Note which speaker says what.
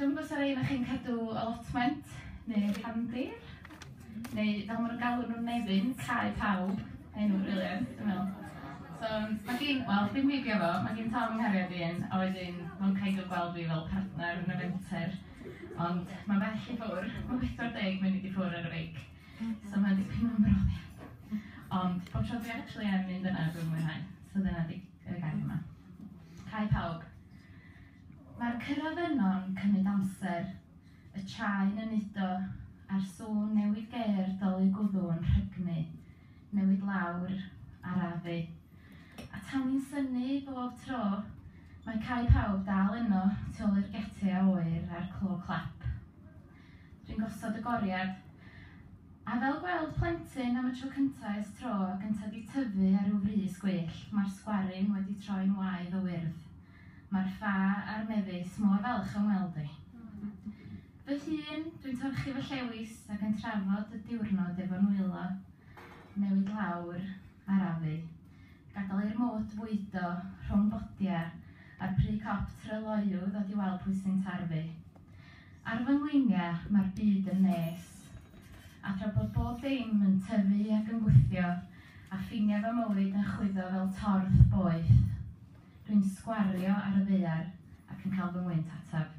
Speaker 1: Dwi'm yn gwybod os 'na rei ohonoch chi'n cadw allotment neu cefndir, neu fel maen nhw'n galw nhw'n Nefyn, cae pawb, enw briliant dwi'n meddwl. So mae gen, wel dim fi biau fo, mae gen Tom fy nghariad i un, a wedyn mae'n kind of gweld fi fel partner yn y fenter, ond mae'n bell i ffwrdd, mae'n 40 munud i ffwrdd ar y beic, so mae'n dipyn o ymroddiad. Ond bob tro dwi actually yn mynd yna dwi'n mwynhau, so dyna fi. gyda'i gair yma. Cae pawb. Mae'r cyrraedd yno'n cymryd amser, y traen yn udo, a'r sŵn newydd geir dolyg gwddw yn rhygnu, newid lawr, arafu. A tan ni'n synnu bob tro, mae cae pawb dal yno, tu ôl i'r getia oer a'r clo clap. Dwi'n gosod y goriad. A fel gweld plentyn am y tro cynta ers tro gynta di tyfu ar ryw frys gwyllt, ma'r sgwaryn wedi troi'n waedd o wyrdd. Ma'r ffa a'r mefus mor falch am weld fi. Fy hun, dwi'n torchi fy llewys ac yn trafod y diwrnod efo'n nwylo. Newid lawr, arafu. Gadael i'r mwd fwydo rhwng bodia a'r pry cop try loyw ddod i weld pwy sy'n tarfu. Ar fy ngleinia mae'r byd yn nes. A thra bod bob dim yn tyfu ac yn gwthio a ffiniau fy mywyd yn chwyddo fel torth boeth, dwi'n sgwario ar y ddaear ac yn cael fy ngwynt ataf.